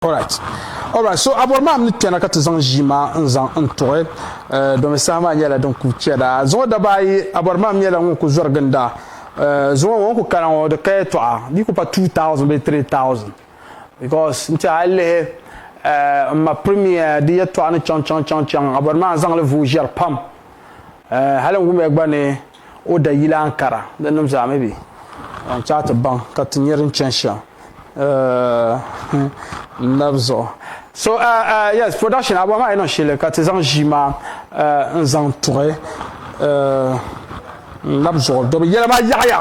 All right. All right. So abɔri maa ni kpɛna ka ti zaŋ ʒii maa n zaŋ n tuɣi eh, domi saha maa nyɛla din ku chɛda. Zuŋɔ daba ayi abɔri maa nyɛla ŋun ku zɔri ginda. Eh, zuŋɔ ŋɔ ku kana ŋɔ di ka yɛtɔɣa di ku pa 2000 bee 3000 because n ti a lihi eh, n ma premier di yɛtɔɣa ni chaŋ chaŋ chaŋ chaŋ abɔri maa n zaŋli vuui ʒɛri pam. Eh, hali n wumiya gba ni o da yila Ankara. Di nim zaa mi bi zaŋ chaai ti baŋ ka ti nyɛ din chani shɛm n lab zuɣu. So yes production abuɣa maa yi niŋ shɛli ka ti zaŋ ʒii maa n zaŋ tuɣi n lab zuɣu dobi yɛla maa yaɣiya.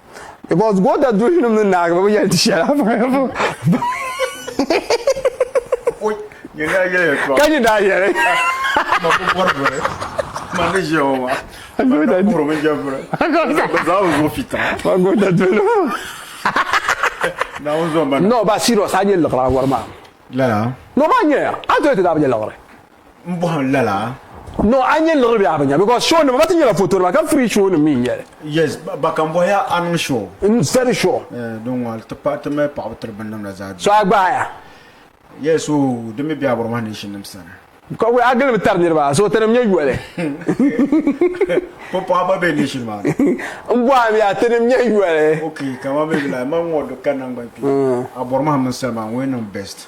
because goota duhi nim ni naagi bi yɛli ti shɛla ka nyɛ daa yɛli goota duhi no ba serious a nyɛ liɣiri a wari maa no ba nyɛ a to ti daa bi nyɛ liɣiri n bɔhim lala. No a nyɛ liɣiri bɛ a bi nya because show nima ba ti nyɛla foto nima ka free show nim mi n nyɛli. Yes ba kan bɔhi ya a niŋ show. N very sure. Eh din ŋɔli ti pahi ti mali paɣaba tiri binnim la zaa bɛ. So a gbaai ya. Yes so din mi bɛ a Burma nation nim sani. Ka wuli a gilimi tari niriba so tinim nyɛ yoli. Ko paɣa ba bɛ nation maa ni. N bɔhi mi ya tinim nyɛ yoli. Okay ka ma mi bila ma ŋɔ do ka nangban kpe a Burma mini Salima ŋɔ yɛn niŋ best.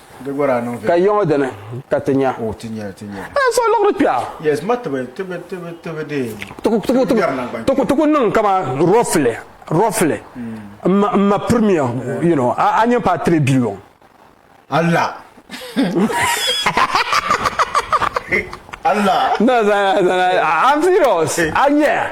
Ka yiŋɔ dini ka ti nya? N so liɣiri kpɛɣu. Ti ku niŋ kaman roughly, roughly, m ma premier, you know, a nya paai three billion. Allah! No, I'm serious. A nya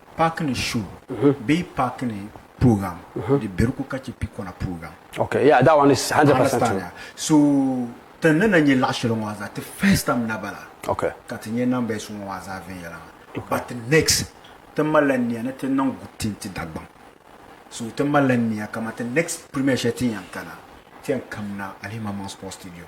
Paaki ni show bee paaki ni program di beri ku ka chɛ pikɔna program. Okay, yeah, that one is 100% true. Understand, yeah. So, ti ni na nyɛ laɣ shɛli ŋɔ maa zaa, ti first time na bala Okay. ka ti nyɛ numbers ŋɔ maa zaa viɛnyɛla maa. But next, ti malila nia ni ti niŋ good thing ti Dagbaŋ. So, ti malila nia kaman ti next premiere shɛli ti ni yɛn kana, ti yɛn kamina Alimaman Sports Stadium.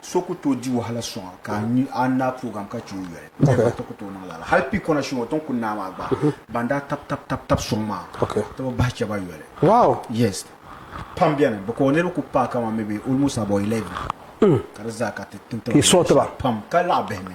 So ku tooi di wahala sɔŋa ka a nyu a ni naai program ka chɛ o yoli. Dama ti ku tooi niŋ lala. Hal pii kɔna shɛŋa o tiŋ kuni naa maa gba, ban daa tab tab tab tab sɔŋ maa, ti bi bahi chɛ ba yoli. Wow! Yes. Pam beni. Bɛ ka o niriba ku paai kaman maybe almost about eleven ka di zaa ka ti tin ti ba yoli shɛli pam ka laɣ bihi mi.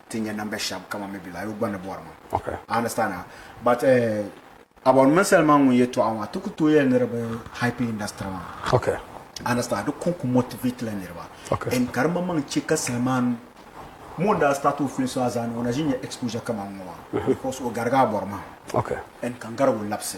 ti nya namba shɛb kaman mi bɛ lahi yo gba ni bɔri ma. I understand a? But eh, about mini Selma ŋun yɛtɔɣa maa, ti ku tooi yɛli ni di bi hype industry maa. I understand, di kon ku motivate la niriba. And ka di maŋmaŋ chɛ ka Selman, mo n-daa start o film so a zaani, o na ʒi nya exposure kaman ŋɔ maa, because o garigi a bɔri mahim. And ka n garig o labisi.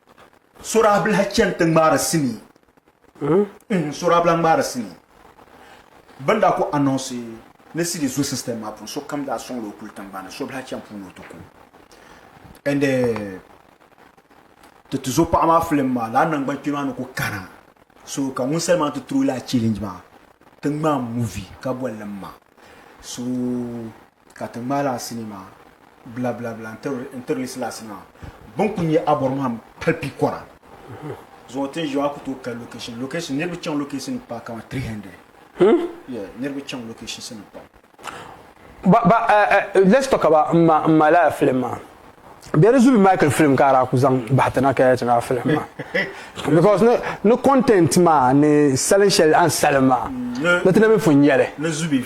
Suraahbilah chani ti ŋmaari sinii. Mm-hmm. Suraahbilah ŋmaari sinii. Bɛ ni daa ku anɔnsi ni CD zo system maa puuni, sokam daa sɔŋla o kuli tiŋgbani, surubilah chani puuni o ti ku. And eh, ti ti zo paɣa maa film maa, lala nangbankpɛma maa ni ku kana. So ka ŋunsali maa ti tiri o lala challenge maa, ti ŋmaai movie ka boli li m-ma. So. ka ti ŋmaai lala sinii maa bilabilaabila n-tiri li silasi maa. Bini kuli nyɛ Abɔrmaham pali pikɔra zuɣu ti ni ʒiya maa ku tooi kali location location niriba chaŋ location ni paai kamani 300 yeah niriba chaŋ locations ni pam. Ba ba eh eh let's talk about m ma m ma lala film maa bɛ di zubi Michael film ka a daa ku zaŋ bahi ti na ka yɛli ti lala film maa because ni ni content maa ni salin shɛli a ni salim maa ni ti na mi pun nya li. Ni zubi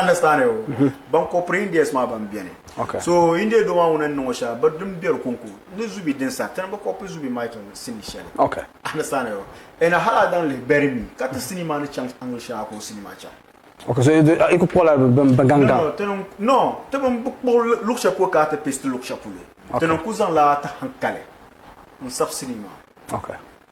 understand o ban ko piri indians maa ban beni okay. so india do maa ŋuna n niŋo shɛli bi din beri konko ni zubi din sa tini bi kopi zubi maa chaŋ sini shɛli okay. understand o ɛna hala dan lihi beri mi ka ti sini maa ni chaŋ angle shɛŋa ka o sini maa chaŋ Okay, so i ku kpuɣila ban gaŋga? No, ti bin bi kpuɣi luɣu shɛli polo ka ti pesti luɣu shɛli polo. Ti ni ku zaŋla ti hankali n sabisili maa. Okay.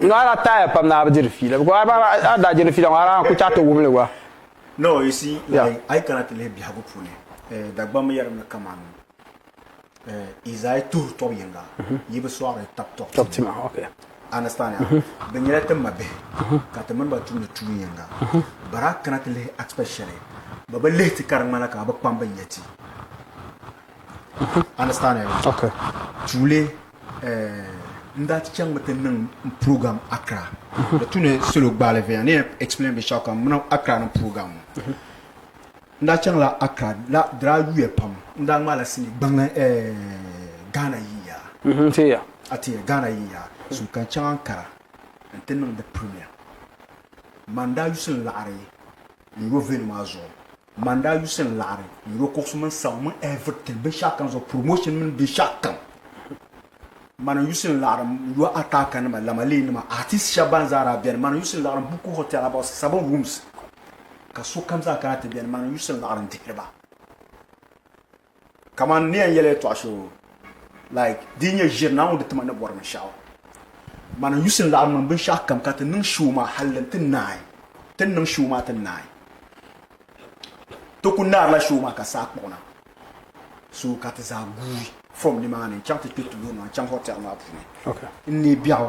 No a daa taaya pam ni a bi diri fiila because a daa daa diri fiila ŋɔ a daa ku chaɣi ti wumli gba. No, you see, like, a yi kana ti lihi biɛhigu puuni, eh, Dagbamba yɛrimi kaman eh, Izaya tuhi tɔb yiŋga, Yi bi sɔɣiri tab tɔb ti ma. Understand ya? Bɛ nyɛla ti mabihi, ka ti mini ba tumdi tuun yiŋga. But a kana ti lihi aspect shɛli, bɛ bi lihi ti ka di ŋmanila ka a bi kpam bɛ nya ti. understand okay tuuli eh, n daa ti chaŋmi ti niŋ program Accra di tu ni solo gbaali viɛla ni explain bi shaka muna Accra ni program n daa chaŋla Accra la dira yuya pam n daa ŋmaala sini gbaŋli eh, Ghana yiya mhm, tiya ati Ghana yiya so kan chaŋ Ankara n ti niŋ di premier man daa yusin laɣari n yo venue maa zuɣu Man daa yusi n laɣiri yuro kuɣusi mini sabu mini everything binshɛɣu kam zuɣu promotion mini binshɛɣu kam man n yusi n laɣiri yo ataka nima lamalee nima artist shɛba ban zaa daa bɛni man n yusi n laɣiri buku hotel about seven rooms ka sokam zaa kana ti bɛni man n yusi n laɣiri n dihiri ba Kamani ni yɛn yɛli ya tɔɣu shee like di yi nyɛ ʒiri ni a ŋun di tima ni bɔri binshɛɣu man n yusi n laɣim niŋ binshɛɣu kam ka ti niŋ shoo maa hali n ti naai ti niŋ shoo maa ti naai ti ku naarila shoo maa ka saa kpuɣi na so ka ti zaa guui from nimaani n chaŋ ti kpɛ tuloŋ maa n chaŋ hotel maa puuni n neei biɛɣu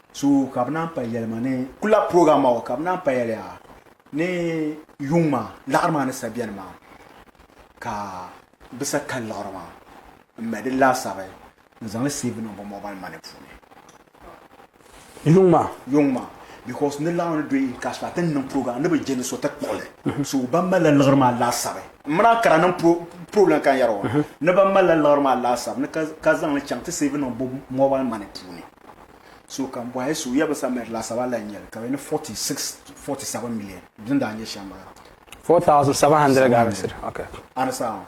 So ka bɛ naan payali ma ni kula program maa ka bɛ naan payali a ni yuŋ maa laɣiri maa ni sa bɛni maa ka bɛ sa kali laɣiri maa n mali di laasabi n zaŋli save niŋ bɛ mobile money puuni yuŋ maa yuŋ maa because ni laɣiri ni doyi ka so ati niŋ program ni bɛ jɛni so ti kpuɣili mhm. so ban mali la liɣiri maa laasabi n mina kara niŋ program kan yɛri o mhm. ni ban mali la liɣiri maa laasabi ni ka zaŋli chaŋ ti save niŋ bɛ mobile money puuni so ka bɔhi so ya bi sa mɛri laasabu a lahi nyɛli ka bɛ ni 46 47 million din daa nyɛ shɛm bala 4700 garisi okay understand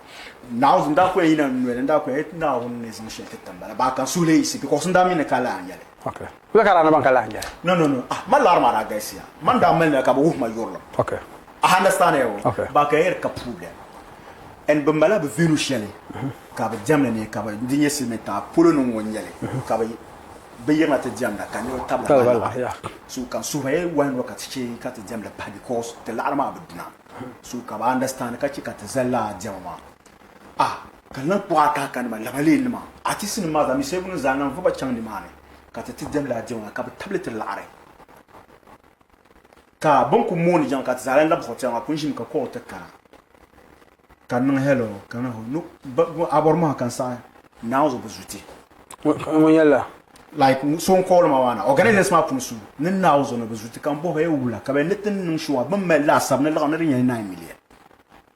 now n daa ko yɛn yina noli n daa ko yɛn naawuni ni zaŋ shɛli ti timbala baa kan suhili yisi because n daa mi ni ka lahi nyɛli okay bɛ ka daa ni ban ka lahi nyɛli no no no ah ma lari maa daa galisiya man daa mali na ka bi wuhi ma yurilim okay A understand ya o? Okay. Ba ka yɛri ka problem and bi mala bi venue shɛli ka bi diɛmdi ni ka bi di nyɛ silimiin tiŋa polo ni ŋɔ nyɛli ka bi bi yirina ti diɛmda ka niriba tabila Tabila bahi bahi, yeah. laɣiri so ka suhuri ya wahi ŋɔ ka ti chɛ ka ti diɛmdi pahi because ti laɣiri maa bi duna so ka bi understand ka chɛ ka ti zali lala diɛma maa ah ka lan kpuɣi a kaaka nima lamalee nima artist nim maa zaa mi Segunim zaa lan vuba chaŋ ni maa ni ka ti ti diɛmdi lala diɛma maa ka bi tabili ti laɣiri. Ka bini ku mooni jaŋ ka ti zaa lan labi hɔ piɛɣu maa pun ʒimi ka kɔh o ti kara ka niŋ hɛlɔ ka na hɔ no a bɔri mɔha ka n saɣi Naa ŋɔ zuɣu bi zu ti. Ŋɔ nyɛla. Like so n kɔhili ma maa na organizers maa pun su ni Naa ŋɔ zuɣu ni bi zu ti ka n bɔhi hɔ ya wula ka bɛ ni ti niŋ shɔŋa bini mali laasabu ni laɣim ni di nyɛla nine million.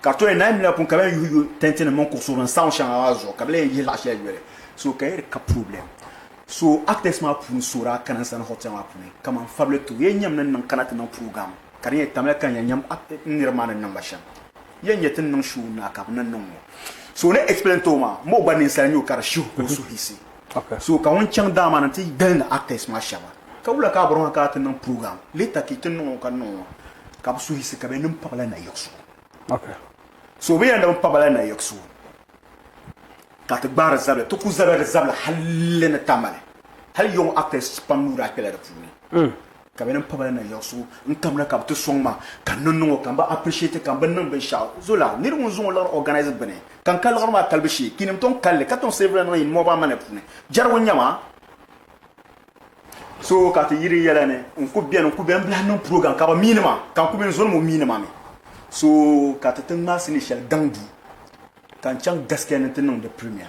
Ka to yɛn na yimila pun ka bɛn yuhi yuhi tɛntinim mini kuɣusi din saɣim shɛŋa maa zuɣu ka bɛ lee yihi laɣ shɛli yoli. So ka yɛli ka problem. So actors maa puuni so daa kana n sani hotel maa puuni kaman fabili too yɛn nyam ni niŋ kana ti niŋ program ka di nyɛ tamya ka yɛn nyam n niriba maa ni niŋ ba shɛm yɛn nyɛ ti ni niŋ show n na ka bɛ ni niŋ ŋɔ. So o ni explain too maa m bo gba ninsal nyoo ka di shihi ka o suhuyisi. Okay. So ka ŋun chaŋ daa maa ni ti gilindi actors maa shɛba. Ka wula ka a bɔri ma ka a ti niŋ program later ka yi ti niŋ o ka niŋ o maa ka bi suhi yiɣisi ka bɛ niŋ pabila nayiɣiso. Okay. So bɛ yɛn niŋ pabila nayiɣiso ka ti gbaari zabili ti ku zabiri zabili hali ni tamali. Hali young actors pam nuu daa kpela di puuni. Ka bɛ ni pa bala na yiɣisigu n kam na ka bɛ ti sɔŋ ma ka n ni niŋ o ka m bi appreciate ka m bi niŋ binshɛɣu zo la niri ŋun zaŋ o liɣiri organise gbuni ka n ka liɣiri maa kalibu shee ka inim tɔŋ kali li ka tɔŋ sirivili niŋ in mɔɣu amana puuni jɛrigu nya ma so ka ti yiri yɛla ni n ku beni n ku beni n bi lahi niŋ program ka bɛ miini ma ka n ku be n zo ni mo miini ma mi so ka ti ti ŋmaasi ni shɛli gaŋ duu ka n chaŋ gaskiya ni n ti niŋ di premier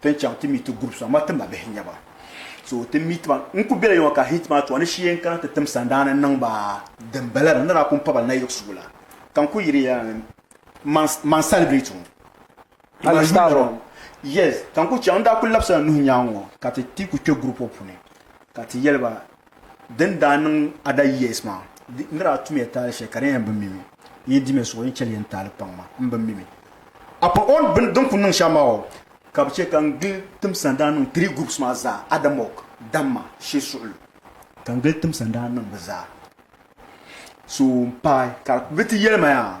Ti ni chaŋ ti meet ti groups maa ma ti ma bihi n-nyɛ ba so ti meet ba n kuli bela yoma ka heat maa tɔɣa ni shee n kana ti tim sandaani n niŋ ba din bala la ni daa kuli paba na yiɣisigu la ka n kuli yiri ya man man celebrate ŋɔ Ala style ŋɔ yes ka n kuli chaŋ n daa kuli labisila nuhi nyaaŋɔ ka ti ti kuli kpe group ŋɔ puuni ka ti yɛli ba Din daa niŋ Ada years maa, n daa tumiya taali shɛli ka di yɛn bi mi mi. N yi dimi suɣi, n chɛ li yɛn taali kpaŋ maa, m bi mi mi. Apart on bini din kuli niŋ shɛm maa o, ka bɛ chɛ ka n gili timsa n daa niŋ three groups maa zaa, Adamɔg, Damma, Shee Suɣulu. Ka n gili timsa n daa niŋ bɛ zaa. So m paai ka bɛ ti yɛli ma yaa.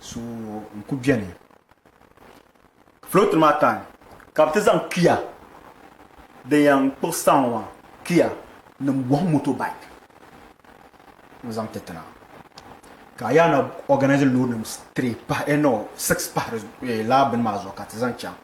so n ku beni float maa time ka bi ti zaŋ kia din yan kpuɣi star ŋɔ maa kia nim bɔhim motorbike n zaŋ ti tina ka a yaa na organise load nim three pahi eh no six pahi di eh, laa bini maa zuɣu ka ti zaŋ chaŋ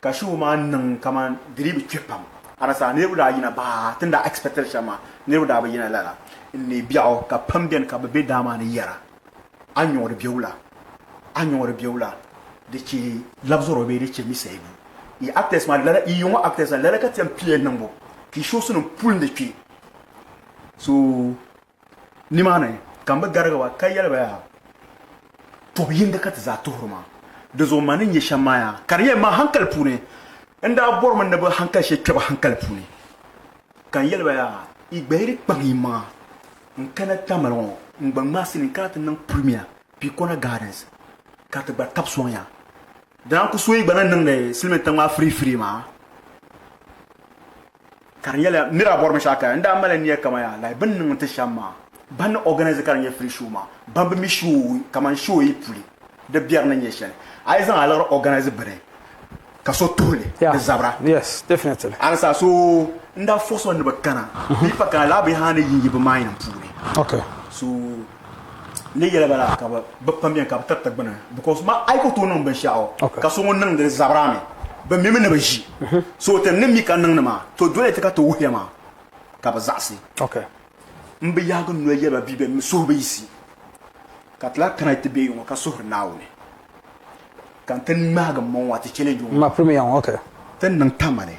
Ka show maa niŋ kaman di dii bi kpe pam. Anasaa niriba daa yina baa ti ni daa expectiri shɛm maa niriba daa bi yina lala. N ni biɛɣu ka pam beni ka bɛ be daa maa ni yɛra, A nyɔɣiri biɛwula, a nyɔɣiri biɛwula, di chɛ labzɔro bee di chɛ mi sayibu. Yi actors maa lala, yi yiŋɔ actors maa lala ka ti yɛn piliya niŋbu ka yi shows nim puli ni kpe so Nimaani ka n bi garigi ba ka yɛli ba yaa, Tɔbu yindi ka ti zaa tuhiri ma. Dizuɣu ma ni nya shɛm maa yaa, ka di yɛn ma hankali puuni. N daa bɔrimi ni bɛ hankali shɛli kpe ba hankali puuni, ka n yɛli ba yaa, Yi gbahiri kpaŋ yiŋmaŋa n-kana Tamale ŋɔ n-gba ŋmaai sili n-kana ti niŋ Premier Pikona Gardens ka ti gba tabi sɔŋ ya. Dina n-ku so yi gba ni niŋdi silimintiŋ maa firifiri maa. Ka di nyɛla nir a bɔri binshɛɣu kaya n daa mali nia kaman yaa like bɛ ni niŋ nti shɛm maa. Ban ni organise ka di nyɛ free show maa, ban bi mi show kaman show yi puli di biɛri ni nyɛ shɛli, a yi zaŋ aliɣiri organise bini ka so tuhi li di zabira. A ni saha so n daa fɔɣis o ni bɛ kana bee pa kana lala binyɛhiri a ni yi yi bɛ maayini puuni. N ni yɛli ba la ka bɛ pam beni ka bɛ tiriti gbini, because ma a yi ku tooi niŋ binshɛɣu ka so ŋun niŋdi li zabira mi, bɛ mimi ni bɛ ʒi. So ti ni mi ka niŋdi maa, to doli ti ka ti wuhiya maa ka bɛ zaɣisi. M bi yaagi n noli yɛli ba bee bɛ mi suhu bi yiɣisi, ka ti lahi kana ti be ŋɔ ka suhiri Naawuni, ka n ti ŋmaagi m maŋ ŋɔ a ti chɛlɛnji ŋɔ maa. Ti ni niŋ tamale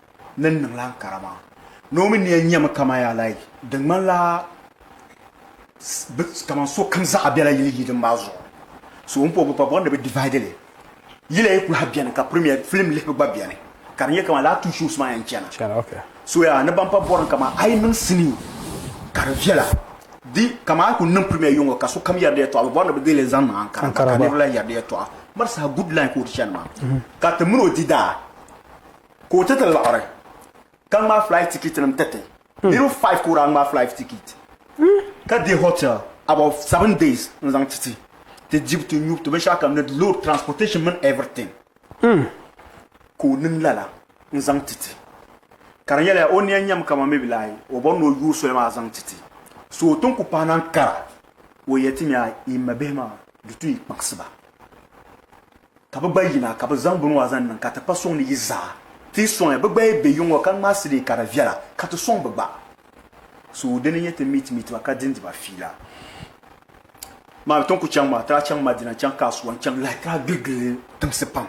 ni n niŋla Ankara maa. Naomi nia nyɛmi kaman yaa like di ŋmanila bɛ kaman sokam zaɣa bela yili yidin maa zuɣu. So m po bɛ pa bɔri ni bɛ divide li. Yila yi kulahi beni ka premiere film lihibu gba beni ka di nyɛ kaman lala two shows maa yɛn chana. So yaa ni ban pa bɔri ni kaman a yi niŋ sinii ka di viɛla di kaman a yi kuli niŋ premiere yiŋga ka sokam yɛri di yɛltɔɣa bɛ bɔri ni bɛ dihili zaŋ niŋ Ankara maa ka niriba lahi yɛri di yɛltɔɣa. Mali saha good line ka o di chani maa ka ti mini o di daa. Ka o ti ti laɣiri ka ŋmaai flight ticket nim tiriti niriba five ka o daa ŋmaai flight ticket ka be hotel about seven days n zaŋ ti ti ti dibu ti nyubu ti binshɛɣu kam ni di load transportation mini everything ka o niŋ lala n zaŋ ti ti ka di nyɛla o niya nyɛmi kama maybe lahi o bɔri ni o yooi soli maa zaŋ ti ti so o tin ku pahi naan kara o yɛli ti mi a yi ma bihi maa di tu yi kpaɣisi ba Ka bɛ gba yina ka bɛ zaŋ bini ŋɔ zaŋ niŋ ka ti kpa sɔŋ ni yi zaa ti yi sɔŋ ya. Bɛ gba yi be yiŋɔ ka ŋmaai sidii ka di viɛla ka ti sɔŋ bɛ gba. So dini n-nyɛ ti meet meet ba ka dindi ba fiila maa. Bɛ ti ni ku chaŋ maa ti daa chaŋ Madina n-chaŋ Kasuwa n-chaŋ like ti daa gili gili tiŋsi pam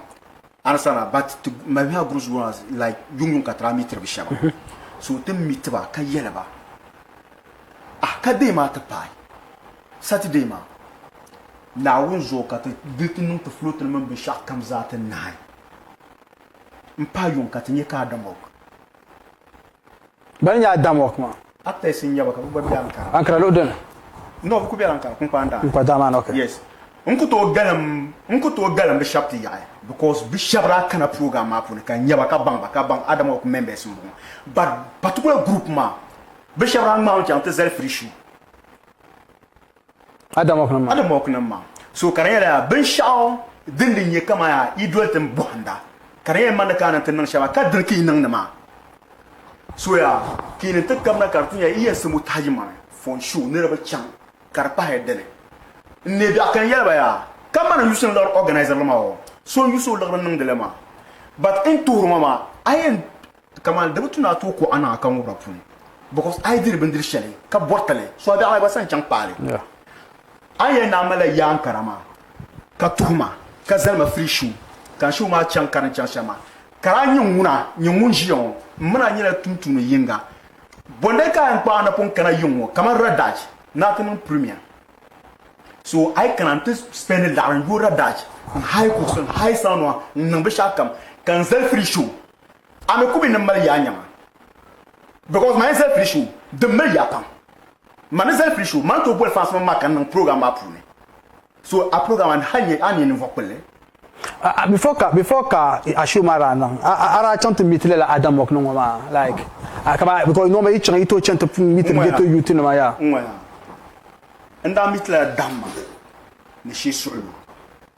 understand a but ti mali miha groups ŋɔ like yuŋ yuŋ ka ti daa meetiri bɛ shɛba. So ti meet ba ka yɛli ba ah ka deei maa ti paai. Saturday maa, Naawuni zuɣu ka ti di ti niŋ ti floating mini binshɛɣu kam zaa ti nahi m-pahi yuŋ ka ti nyɛ ka Adamok. Bɛn nyɛ Adamok maa. Actors n-nyɛ ba ka bɛ gba be Ankara. Ankara luɣi dini? No, bɛ kuli bela Ankara, Kunkpaan Daa. Kunkpaan Daa maa ni, ok. Yes. N ku tooi galim, n ku tooi galim bɛ shɛb ti yaɣi because bɛ shɛb daa kana program maa puuni ka n nya ba ka baŋ ba ka baŋ Adamok members m-bɔŋɔ but particular group maa bɛ shɛb daa ŋmaami chaŋ ti zali free show. Adamɔknim maa. So ka di nyɛla yaa binshɛɣu din di nyɛ kaman yaa yi doli tin bɔhinda, ka di nyɛla yi mani ka a ni ti niŋ shɛba ka diri ka yi niŋdi maa. So yaa ka yi ni ti kabina ka di ti nyɛla yi yɛn simbu tahi yi mani fɔn shu niriba chaŋ ka di pahi di ni n neei biɛɣu ka n yɛli ba yaa ka mani n yusi ni liɣiri organiser li maa o so n yusi o liɣiri niŋdi li maa but n tuhiri ma maa a yɛn Kaman di bi tu ni a tooi kuɣ a niŋ a kaŋubira puuni, because a yi diri bindiri shɛli ka bɔriti li, so a bɛ Alahibaɣa sani chaŋ kpaai li. A ni yɛli ni a malila yaa n-kara maa, ka tuhi ma, ka zali ma free show, ka n show maa chaŋ ka din chaŋ shɛm maa, kara a nyini ŋuna, nyini ŋun ʒiya ŋɔ, m mini a nyɛla tumtumdi yiŋga. Bɔndali ka a yɛn kpaai a napɔŋ kana yiŋ ŋɔ, kaman Radaj ni a ti niŋ premier. So a yi kana n-ti spendi laɣiri n-yo Radaj, n-hire kuɣusi, n-hire saawunima, n-niŋ binshɛɣukam, ka n zali free show. a mi kumi ni mali yaa nyɛma because man zali pili show din mali yaa pam man ni zali pili show man to boli fans man maa ka niŋ program maa puuni so a program an hal nyɛ an nyɛ ninvuɣu kpulli before ka before ka a show maa daa niŋ a daa chaŋ ti meet lala Adam Mokni ŋɔ maa like ka ba because normal yi chaŋ yi to chaŋ ti meet ghetto youth nima ya n daa meet lala Dam ma ni shee suɣulu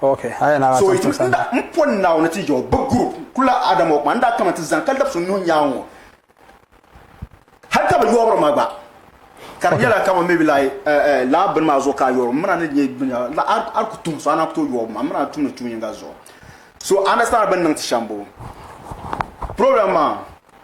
So yi ti nda n po Naawuni ti jɛo bɛ group kula Adam o kuma n daa kama ti zan kalidab so nuhi nyaaŋ ŋɔ hal ka bɛ yɔɔbiri ma gba ka di nyɛla kama maybe like eh, eh, laa bini maa zuɣu ka a yɔɔri m mina ni nyɛ binya la a a ku tum so a na ku tooi yɔɔbi ma m mina tumdi tuun yinga zuɣu so understand bɛ ni niŋ ti shɛm bo problem maa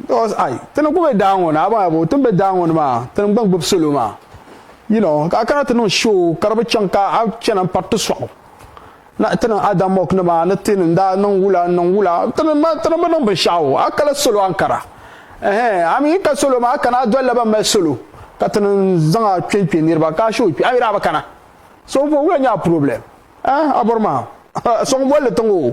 because ai ti ni gbubi daa ŋɔ ni abaŋ abu ti ni be daa ŋɔ ni maa ti ni gba gbubi salo maa you know ka a kana ti niŋ show ka di bi chaŋ ka a chana m-pari ti sɔɣu na ti niŋ ada mock ni maa ni ti ni daa niŋ wula n niŋ wula ti ni ti ni bi niŋ binshɛɣu a kala salo ankara ɛhɛn a mi yi ka salo maa a kana a dolila ban mali salo ka ti ni zaŋ a kpe n-kpe niriba ka a show kpe a mi daa bi kana so wula nyɛ a problem eh a bɔri maa sɔŋ bolli tiŋ o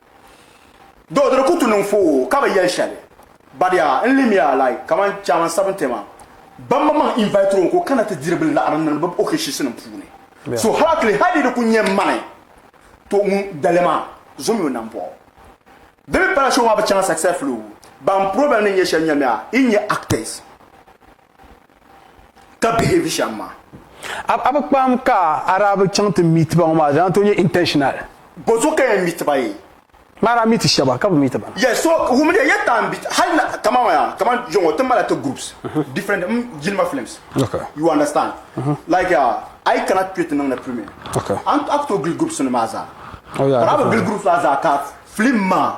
Do di ku tu niŋ foo ka bi yɛli shɛli. Badiya n limiya like kamani Chairman Sabintema ban ma maŋ invite o ka o kana ti diri bi laɣiri ni bi okeshiisi nim puuni. So halakili hali di ku nyɛ mani to ŋun dali maa zomi o nambɔɣu. Di mi pala show maa bi chaŋ successfully o ban problem ni nyɛ shɛli nyamiya i nyɛ actors. ka behave shɛm maa. A bi kpaam ka a daa bi chaŋ ti meet ba ŋɔ maa di daa tooi nyɛ intentional. Bɔzɔ ka yɛn meet ba yee. Maa daa meet shɛba ka bi meet ba na. Yes so wumdiya yɛ taan bit hali na kaman maa yaa kaman yo ŋɔ ti mala ti groups different m jilima films you understand like yaa a yi kana kpe ti niŋdi filming a ni tooi gili groups nim maa zaa but a bi gili groups maa zaa ka film maa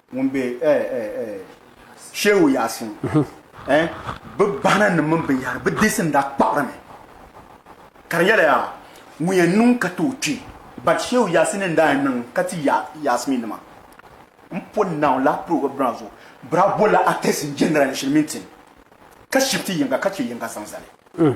Ŋun be eh eh eh Shehu Yasin eh Bɛ bahina nim mini binyahiri bɛ deesi n daa kpaɣiri mi ka di yɛli yaa ŋun yɛn niŋ ka tooi kpi but Shehu Yasin n daa yɛn niŋ ka ti ya Yasmi nima n pɔ naw la prog bra zuɣu bra bol la actress n jɛndira ni shiri mini tin ka shifti yiŋga ka che yiŋga zaŋ zali.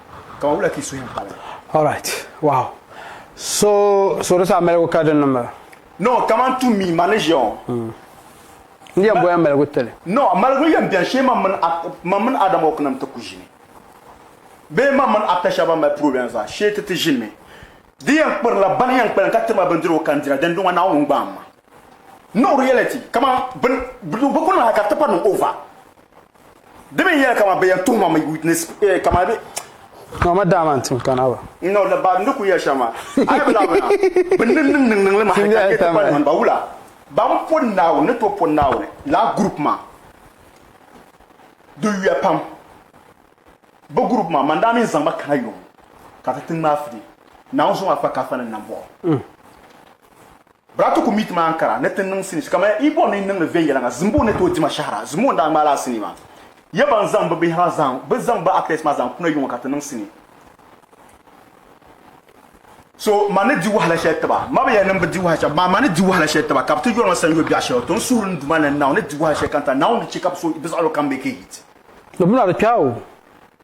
Kama wula ka yi suhim hali? All right. Wow. So, so di saa maligu ka di niŋ ba? No, kaman to me, man ni ʒiya ŋɔ. Hmm. N yɛn bɔya maligu tili. No, maligu yɛn bɛni shee man mini Adam Hawk nim ti ku ʒini. Bee man mini actor shɛba ban mali problem zaa shee ti ti ʒinimi. Di yɛn kpirila bani yɛn kpalim ka tiriba bindirigu ka n dira dindin ŋɔ Naawuni n-gbaai ma. No reality, kaman bini, bɛ ku niŋ hali ka tipa niŋ over. Di mi yɛli kama bɛ yɛn tuhi ma mi witness eh, kama bɛ No ma daa man tim kana ba. No la ba ndi ku yɛ shɛm ma. Ayi bi labina. Bi niŋ niŋ niŋ niŋ li ma hali ka yɛ ti kpani man ba wula. Ban po Naawuni ni to po Naawuni laa group maa di yuya pam. Bi group maa man daa mi zaŋ ba kana yom ka ti ti ŋmaa fili. Naawuni zuŋɔ a kpa kaafa ni nambɔɣu. Bra ti ku mi ti maa n-kara ni ti niŋ sinis kamaya Ibon ni niŋdi viɛnyɛliŋga zimbu ni tooi dima shɛhira zimbu n-daa ŋmaai lala sinii maa. Ya ban zaŋ bɛ bihi maa zaŋ bɛ zaŋ bɛ actors maa zaŋ kuna yuŋɔ ka ti niŋ sinii. So ma ni di wahala shɛli tiba. Ma bi yɛli ni m bi di wahala shɛli amaa ma ni di wahala shɛli tiba ka bɛ ti yɔri ma sanyoo biɛɣu shɛli o tin suhuri ni Duuma ni Naawuni ni di wahala shɛli ka n ta Naawuni ni chɛ ka bɛ so bɛ zaɣilo kam be kehit. Di mi na di kpɛɣu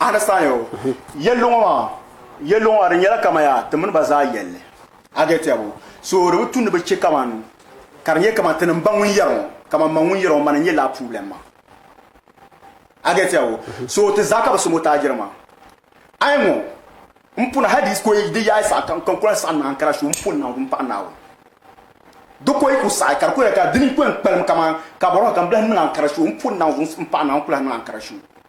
Understand yo? Yɛlli ŋɔ maa, yɛlli ŋɔ maa di nyɛla kama ya ti mini ba zaa yɛlli. A get ya bo? So di bi tu ni bi che kaman ka di nyɛ kaman ti ni m-ba ŋun yɛri ŋɔ, kaman ma ŋun yɛri ŋɔ ma ni nyɛ laa problem maa. A get ya bo? So ti zaa ka bi so mo taajiri maa. A yi ŋɔ, m puna hal di yi koyi di yaai saha kam ka n ku lahi saɣi ni Ankara shuu m pun niŋ di m-paɣi Naawuni. Di koyi ku saɣi ka di ku yɛli ka di ni ku yɛn kpalim kaman ka bɔrɔhi ka m bi lahi niŋ Ankara shuu m pun niŋ zuŋ m-paɣi Naawuni n ku lahi niŋ Ankara shuu.